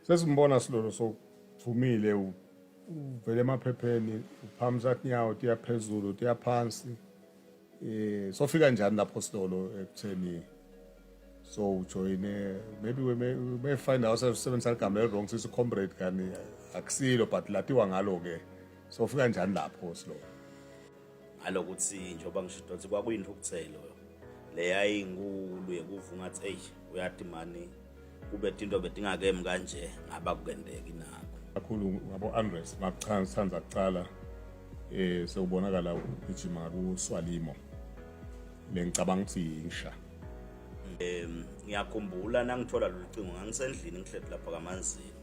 sesimbona silolo sokuvumile uvele emaphepheni uphamisa tinyawo tiya phezulu tiya phansi eh sofika njani lapho silolo ekutheni so ujoyine maybe we may, we may find ourselves sebenzisa ligama elirong sisi comrade kani akusilo but latiwa ngalo-ke sofika njani lapho silolo ngalokuthi njengoba ngisho ukuthi kwakuyinthukuthelo leyayinkulu yekuva ungathi eyi uyati mani kube tinto betingakemi kanje ngaba kukendeki nakho kakhulu ngabo-andres makuthanda kucala um sewubonakala ugijima kuswalimo le ngicabanga ukuthi yinsha um ngiyakhumbula nangithola lolu cingo ngangisendlini ngihleli lapha kamanzini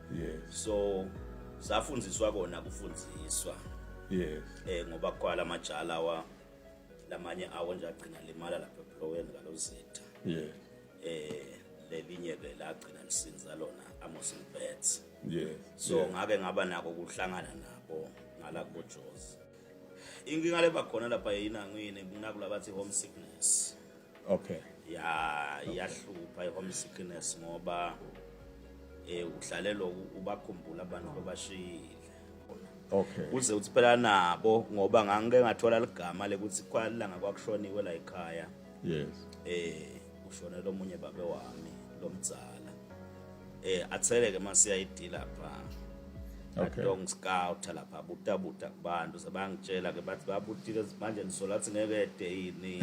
yes so safundiswa kona kufundiswa yes eh ngoba kwala majala wa lamanye awo nje agcina limala lapha ebloweni ngalozitha yeah eh lelinye ke lagcina lisinza lona Amos Bets yes so yeah. ngake ngaba nako kuhlangana nabo ngala kubojozi inkinga leba khona lapha yina ngine kunakula bathi home sickness okay ya iyahlupha i-home sickness ngoba eh uhlalelo ubakhumbula abantu babashiyile okay uze uthi phela nabo ngoba ngangike ngathola ligama lekuthi kwalanga kwakushoniwe la ekhaya yes eh ushonela omunye babe wami lomdzala eh atheleke masiya idila pha Okay. Long scout lapha buta buta kubantu sebangitshela ke bathi babutile manje nisola athi ngeke ede yini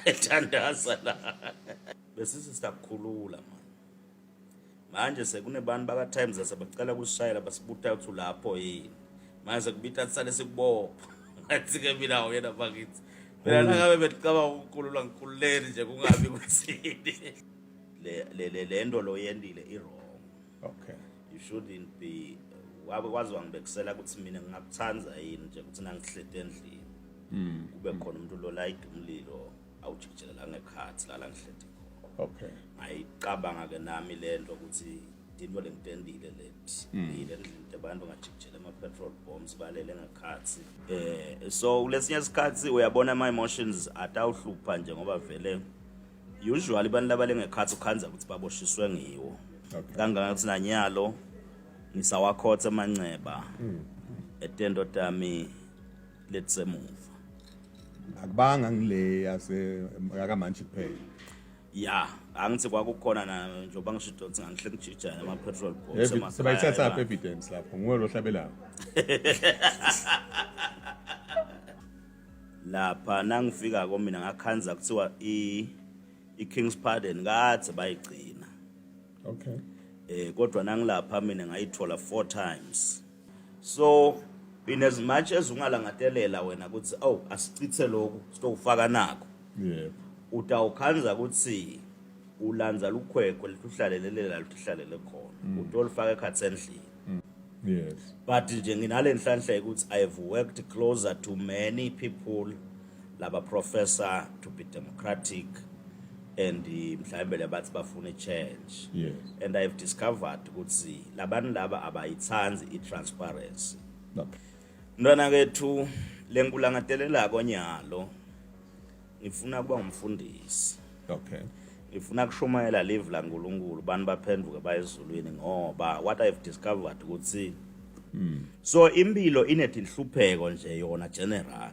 ethandaza la bese sisakhulula manje manje sekunebantu baka-times asebacela kusishayela basibutha ukuthi ulapho yini manje sekubitha sisale sikubopha ngathi-ke mina uyena bakithi mina nangabe belicabanga ukukhulula ngikhululeni nje kungabi kuthini le nto lo yendile i-wrong okay you shouldn't be wabe kwazi wangibekusela ukuthi mina ngingakuthanda yini nje ukuthi nangihlete endlini hmm. kube khona umuntu lolayida umlilo awujijela la ngekhathi la la ngihleti khona okay ngayicabanga ke nami lento ukuthi into lengitendile leti hmm. yile ndlela abantu ngajikijela ama petrol bombs balele ngekhathi eh so kulesinye isikhathi uyabona ama emotions atawuhlupha nje ngoba vele usually abantu labale ngekhathi ukhanza ukuthi baboshiswe ngiwo kangaka ukuthi nanyalo ngisawakhotha amanxeba hmm. etendo tami let's say move akubanga ngile yase yakamantshi kuphela ya angithi kwakukhona na njengoba ngisho idonsi ngangihle ngijija ama petrol bombs Evi- sebayithatha apha evidence lapho nguwe lo hlabelayo lapha nangifika ko mina ngakhanza kuthiwa i i King's Pardon kade bayigcina okay eh kodwa nangilapha mina ngayithola four times so in as much as ungalangatelela wena ukuthi aw oh, asichithe lokhu sitokufaka nakho yebo utawukhanza ukuthi ulandza lukhwekhwe lituhlalelela lituhlalele khona mm. utolifaka ekhathi endlini mm. yes but nje nginale nhlanhla ukuthi i have worked closer to many people laba professor to be democratic and mhlawumbe lebathi bafuna change yes. and i've discovered ukuthi labantu laba abayithandi i-transparency mntwana kethu le nkulangatelelako nyalo ngifuna kuba ngumfundisi okay ngifuna kushumayela live la nkulunkulu bantu baphenduke bayezulwini ngoba what i've discovered ukuthi mm. so impilo inetinhlupheko nje yona general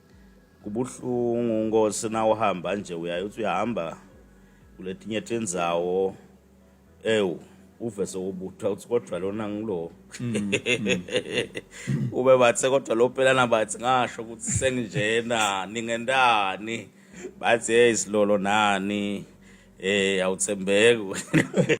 kubuhlungu nkosi na uhamba nje uyaye uthi uyahamba kuletinye tindzawo ewu uve sewubutha uthi kodwa lona ngilo mm, mm. ube bathe kodwa lo pelana bathi ngasho ukuthi senginjena ningentani bathi hey silolo nani eh awuthembeki